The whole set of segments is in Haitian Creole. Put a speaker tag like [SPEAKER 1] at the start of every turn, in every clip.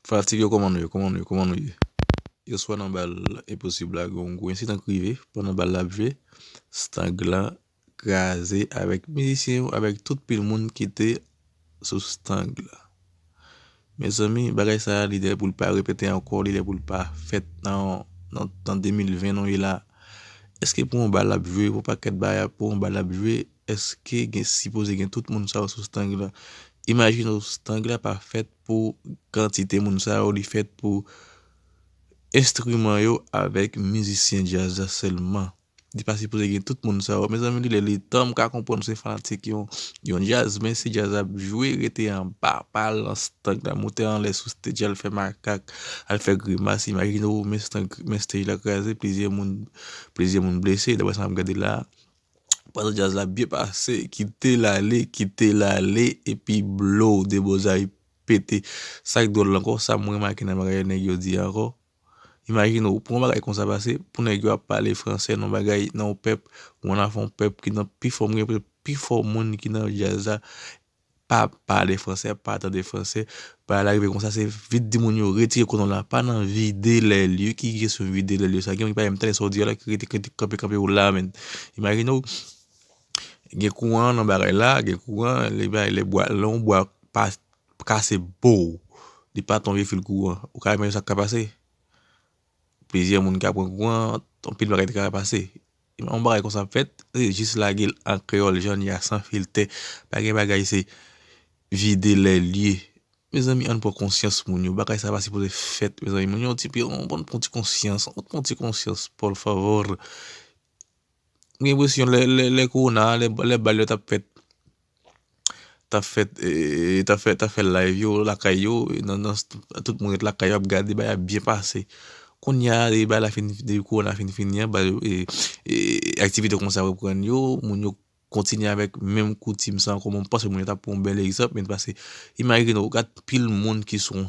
[SPEAKER 1] Fanatik yo kòman nou ye kòman nou ye kòman nou ye yè swa nan bal enposib la gen yon gwo ensidan ki rive pandan bal la ap jwe stag la kraze avèk mizisyen yo avèk tout pil moun ki te sou stag la mezanmi bagay sa li lè pou l pa repete ankò li lè pou l pa fèt nan 2020 nou ye la èske pou yon bal ap jwe pou yon pakèt bagay pou yon bal ap jwe. Eske gen sipoze gen tout moun sa yo sou stang la? Imajine w stang la pa fèt pou kantite moun sa yo, li fèt pou enstriman yo avèk mizisyen djaz la sèlman. Li pa sipoze gen tout moun sa yo. Mezanmi li lè li tan m ka konprann se fanatik yon djaz men si djaz la ap jwe rete anba pa al nan stang la moute anlè sou stage al fè makak al fè grimas imajine w men stang men stage la kraze plizyè moun plizyè moun blese daprè sa m ap gade la a. Pandan djaz la ap byen pase, kite l ale, kite l ale epi blow Debozay pete. Sa k dwòl la ankò, sa m remake nan bagay nèg yo di a ankò, imajine w pou yon bagay konsa pase, pou nèg yo ap pale fransè nan yon bagay, nan yon pèp, ou annafè yon pèp ki nan pi fò, m gen enpresyon pi fò moun ki nan djaz la, pa pale fransè, pa tande fransè, bagay la rive konsa se vit di moun yo retire konon la pa nan vide lè lye, ki kesyon vide lè lye sa, gen moun ki pa menm tande sa w di a la ki rete kite kanpe kanpe w la menm, imajine w gen kouran nan bagay la, gen kouran lè bagay lè bwa lè yon bwa pa kase pow li pa ton vye fil kouran ou ka imajine sa k ka pase, plizyè moun ka pran kouran anpil bagay te ka pase. Yon bagay konsa ap fèt, se jis lage l an kreyòl jan l ye a san filtè. Pa gen bagay se vide lè l ye. Mezanmi ann pran konsyans moun yo, bagay sa pa sipoze fèt mezanmi. Moun yo yon ti pi ann pran yon ti konsyans, ann pran yon ti konsyans por favor. M gen enpresyon lè lè korona a, lè bal yo t ap fèt, ta fè ta fè ta fè live yo lakay yo nan nan tout moun ret lakay yo ap gade bagay ap byen pase kounya depi bagay la fin depi korona fin fini an bagay yo aktivite konsa reprann yo moun yo kontinye avèk menm koutim sa ankò mwen panse moun yo ta pran yon bèl egzanp men pase imajine ou gad pil moun ki sou yon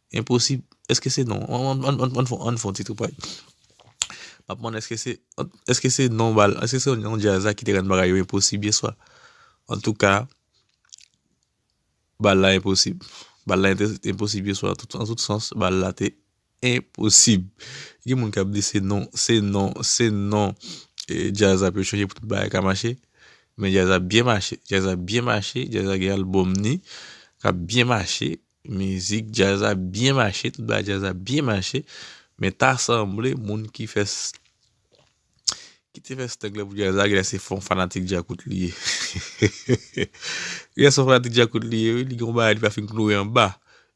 [SPEAKER 1] Enposib Eske se non Ann fon ti tripay Map mande eske se Eske se non bal Eske se non djaz la ki te rann bagay yo enposib yeswa Antouka Bal la enposib Bal la enposib yeswa An tout sans Bal la te Enposib Gen moun kap di se non Se non Se non Djaz la pou yo chanje pou tout bagay ka mache Men djaz la byen mache Djaz la byen mache Djaz la gen album ni Kap byen mache Mizik djaz la byen mache, tout bagay djaz la byen mache, men ta sanble moun ki fè ki te fè stug la pou djaz la genlè se fon fanatik djakout li ye genlè son fanatik djakout li ye wi li gen yon bagay li pa fin kloure anba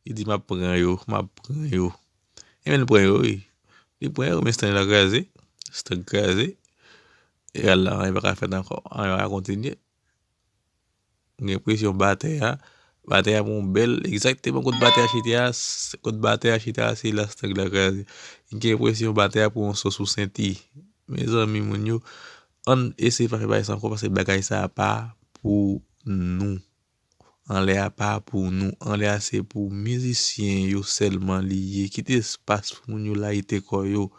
[SPEAKER 1] li di map pran yo map pran yo enben li pran yo wi li pran yo men stug la kraze stug kraze e al la anyen paka fèt ankò anyen paka kontinye. M gen enpresyon batè a, batè a gon bèl, egzakteman kot batè a chita a, kot batè a chita a se la stang la kraze. M gen enpresyon batè a pran yon so sou senti. Mezanmi moun yo, ann eseye pa fè bagay sa ankò paske bagay sa a pa pou nou. anlè a pa pou nou, anlè a se pou mizisyen yo sèlman li ye, kite espas pou moun yo layite kò yo,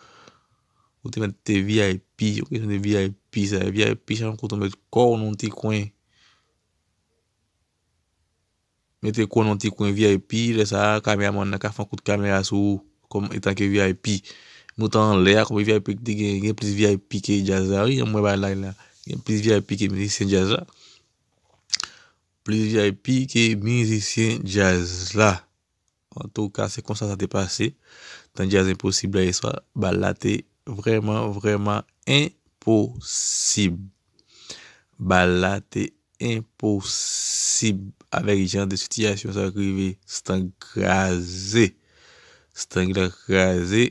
[SPEAKER 1] ou te mèt te vip, ou te mèt vip sa, vip chan kote ou mèt kò ou nan ti kwen, mèt kò ou nan ti kwen vip, lè sa a kamera man nan ka fon kout kamera sou ou, kòm etan ke vip, nou te anlè a kòm vip te gen, gen plis vip ke jazz la wi, yon mwen ba lay la, gen plis vip ke mizisyen jazz la. Plizyè pi ke mizisyen djaz la. Antouka se konsa sa te pase. Nan djaz enposib la yeswa, bal la te vreman vreman enposib. Bal la te enposib. Avèk jan de sitiyasyon sa k rive. Stank kraze. Stank la kraze.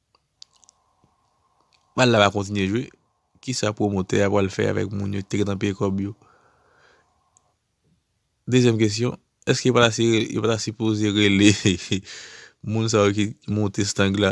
[SPEAKER 1] Bal la pa kontinye jwe. Kisa pwomotè a pral fè avèk moun yo ki te gentan peye kòb yo? Dezyèm kesyon, èske yo pa ta sipoze rele moun sa yo ki monte stang la?